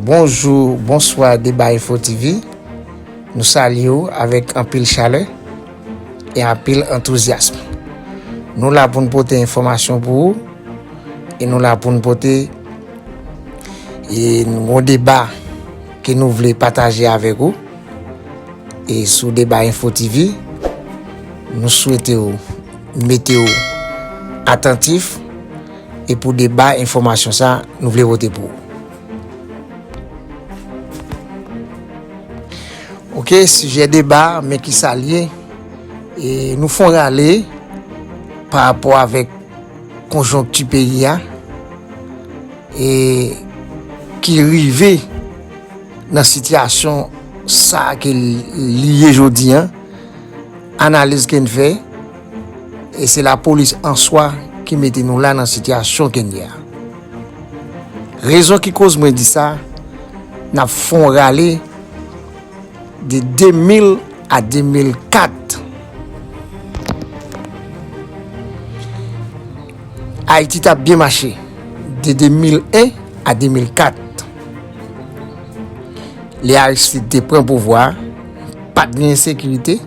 Bonjou, bonswa Deba Info TV Nou salye ou avèk anpil chalè e anpil antouzyasm Nou la pou n pote enfòmasyon pou ou e nou la pou n pote yon deba ke nou vle pataje avèk ou E sou Deba Info TV, nou swete ou mete ou atantif e pou deba enfòmasyon sa nou vle vote pou ou. Ok, sijè deba men ki sa l ye, e nou fon rale pa rapò avèk konjonkti peyi a e ki rive. nan sitiyasyon sa ke li ye jodi an, analiz ke n fè, e se la polis an swa ki mete nou la nan sitiyasyon ke n ye a. Rezon ki koz mwen di sa, n ap fè yon rale de 2000 a 2004, Ayiti t ap byen mache de 2001 a 2004, Lè Aristide te pran pouvwa a, pa t gen ensekirite,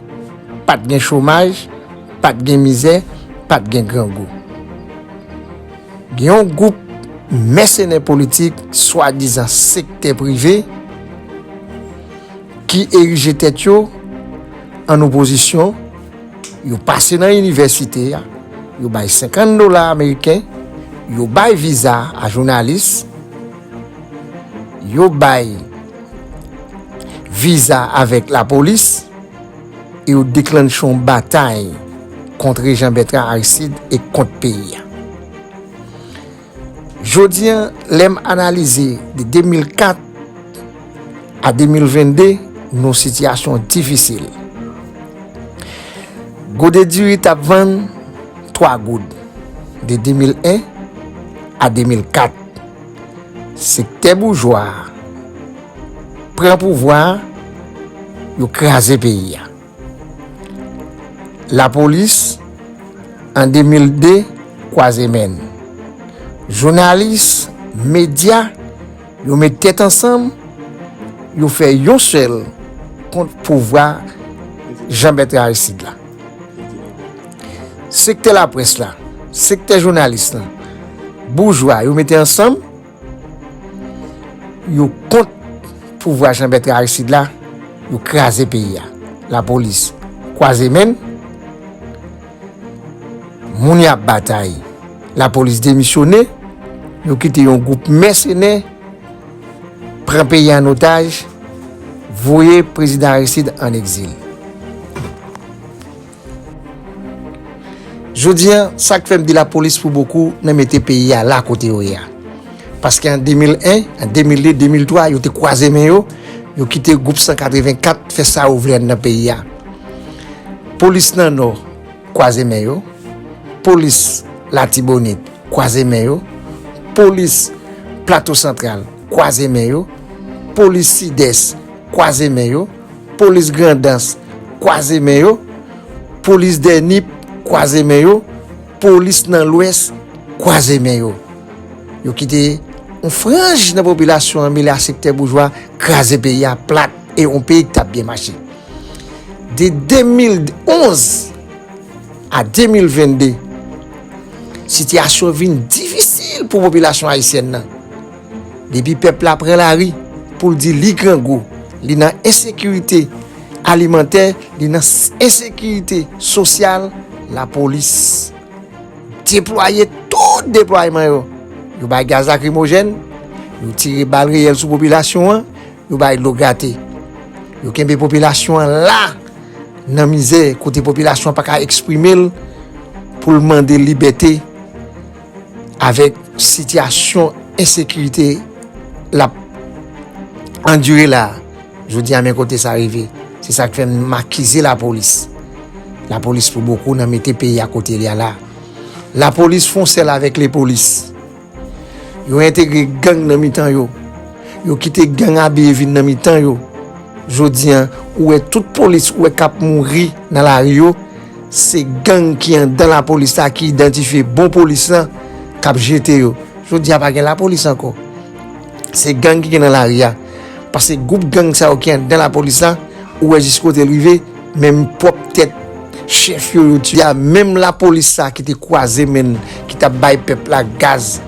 pa t gen chomaj, pa t gen mizè, pa t gen grangou. Gen yon gwoup mèsenè politik swadizan sektè prive ki erije tèt yo ann opozisyon, yo pase nan inivèsite, yo bay 50 dola ameriken, yo bay viza a jounalis, yo bay viza avèk lapolis e yo deklanche yon batay kontre Jean Bertrand Aristide e kont peyi a. Jodi an, lè m analize de 2004 a 2022, nou yon sitiyasyon difisil. Gode diri t ap vann 3 goud de 2001 a 2004. Sektè boujwa a pran pouvwa a, yo kraze peyi a. Lapolis an 2002 kwaze men. Jounalis, medya, yo met tèt ansanm, yo fè yon sèl kont pouvwa Jean Bertrand Aristide la. Sektè laprès la, sektè jounalis lan, boujwa yo mete ansanm, yo kont pouvwa Janbètre Aristide la, yo kraze peyi a. Lapolis kwaze menn, moun y ap batay, lapolis demisyone, yo kite yon gwoup mèsenè. pran peyi an otaj, voye prezidan Aristid an egzil. Jodi an, sa k fè m di lapolis pou bokou nan mete peyi a la kote yo ye a. Paske an 2001, an 2002, 2003, yo te kwaze men yo, yo kite gwoup 184 fè sa yo vle nan peyi a. Polis nan Nò. kwaze men yo, polis latibonit kwaze men yo, polis plato santral kwaze men yo, polis sidès kwaze men yo, polis grandans kwaze men yo, polis dè nip kwaze men yo, polis nan lwès kwaze men yo. Yo kite yon franj nan popilasyon an mele a sektè boujwa kraze peyi a plat e yon peyi ki tap byen mache. De 2011 a 2022, sitiyasyon vin difisil pou popilasyon ayisyèn nan. Depi pèp la pran lari pou l di li grangou, li nan ensekirite alimantè, li nan ensekirite sosyal, lapolis deplwaye tout deplwayeman yo. Yo bay gaz lakrimojèn, yo tire bal reyèl sou popilasyon an, Yo bay dlo grate. Yo kenbe popilasyon an la nan mizè kote popilasyon an pa ka eksprime l pou l mande libète avèk sitiyasyon ensekirite l ap andire la a. Jodi a men kote sa rive. Se sa k fè m akize lapolis. Lapolis pou bokou nan mete peyi a kote l ye a la. Lapolis fon sèl avèk lepolis. Yo entegre gang nan mitan yo. Yo kite gang abiye vin nan mitan yo. Jodi an, ou wè tout polis ou wè k ap mouri nan lari yo, se gang ki anndan lapolis la ki idantifye bon polis lan k ap jete yo. Jodi a pa gen lapolis ankò. Se gang ki gen nan lari a. Pase gwoup gang sa yo ki anndan lapolis la, ou wè jiskote l rive. Menm pwòp tèt chèf yo yo tiye a, menm lapolis sa ki te kwaze men l, ki t ap bay pèp la gaz,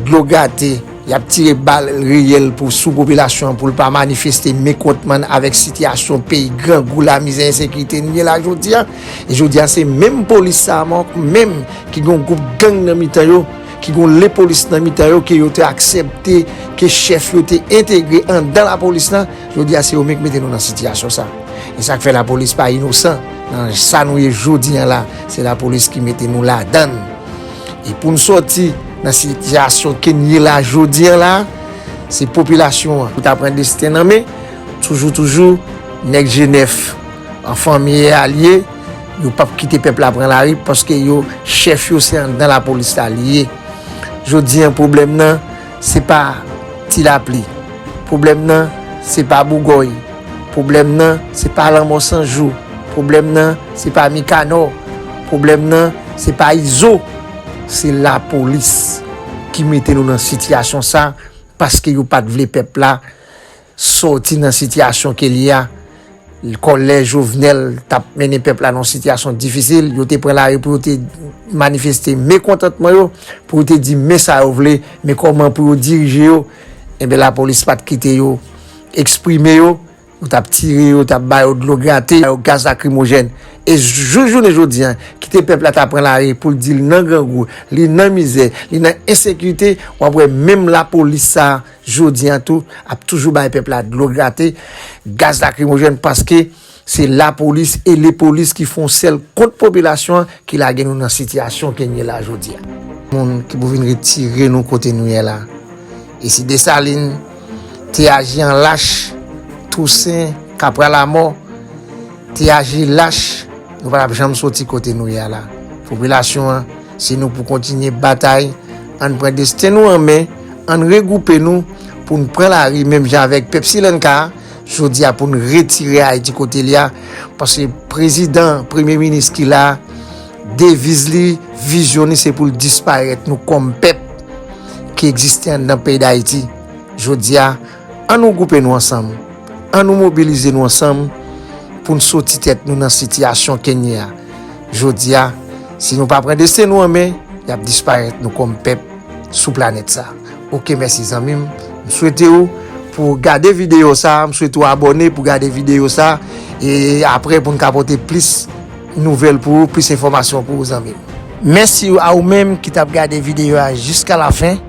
dlo gate, y ap tire bal reyèl pou sou popilasyon an pou l pa manifeste mekontman n avèk sitiyasyon peyi grangou, lamizè, ensekirite n gen la jodi a. E jodi a se menm polis sa a menm ki gen yon gwoup gang nan mitan yo, ki gen yon lepolis nan mitan yo ke yo te aksepte, ke chèf yo te entegre anndan lapolis lan, jodi a se yo menm ki mete nou nan sitiyasyon sa. E sak fè la polis pa inosan nan sa nou ye jodi an la, se la polis ki mete nou ladann. E pou nou soti nan sitiyasyon ke nou ye la jodi an la, se popilasyon an pou ta pran desten nan men, toujou toujou nèg je nèf an fanmi e alye, yo pap kite pèp la pran lari paske yo chèf yo se anndan la polis la li ye. Jodi an pwoblèm nan. se pa ti lapli, pwoblèm nan se pa bougòy, pwoblèm nan se pa lanmò san jou, pwoblèm nan se pa mikanò, pwoblèm nan se pa izo, se lapolis ki mete nou nan sitiyasyon sa paske yo pat vle pèp la sòti nan sitiyasyon ke li a, kòlè Jovenel t ap mennen pèp la nan yon sitiyasyon difisil, yo te pran lari pou yo te manifeste mekontantman yo, pou yo te di men sa yo vle, men kòman pou yo dirije yo, enben lapolis pa t kite yo eksprime yo, yo t ap tire yo, t ap ba yo dlo grate, ba yo gaz lakrimojèn. E jouk jounen jodi a, kite pèp la ta pran lari pou l di l nan grangou, li nan mizè, li nan ensekite, w ap wè menm lapolis sa a, jodi an tou ap toujou bay pèp la dlo grate, gaz lakrimojèn paske se lapolis e lepolis ki fon sèl kont popilasyon an ki lage nou nan sitiyasyon ke n ye la jodi a. Moun ki pou vin retire nou kote nou ye la. E si Desalin te aji an lach, Tousen, Kapra Lamò te aji lach nou pa t ap janm soti kote nou ye a la. Popilasyon an. Se nou pou kontinye batay, ann pran desten nou an men, ann regwoupe nou pou n pran lari menm jan avèk pèp Silanka a jodi a pou n retire Ayiti kote li a paske prezidan, premye minis ki la a deviz li, vizyon li se pou l disparèt nou kòm pèp ki egziste anndan peyi Dayiti jodi a. An nou gwoupe nou ansanm, an nou mobilize nou ansanm pou n soti tèt nou nan sitiyasyon kennye a. Jodi a, si nou pa pran desten nou an men, y ap disparèt nou kòm pèp sou planèt sa. Ok mèsi zanmi m, m swete w pou w gade videyo sa, m swete w abòne pou w gade videyo sa e aprè pou n ka pote plis nouvèl pou ou, plis enfòmasyon pou ou zanmi m. Mèsi a ou menm ki t ap gade videyo a jiskalafen.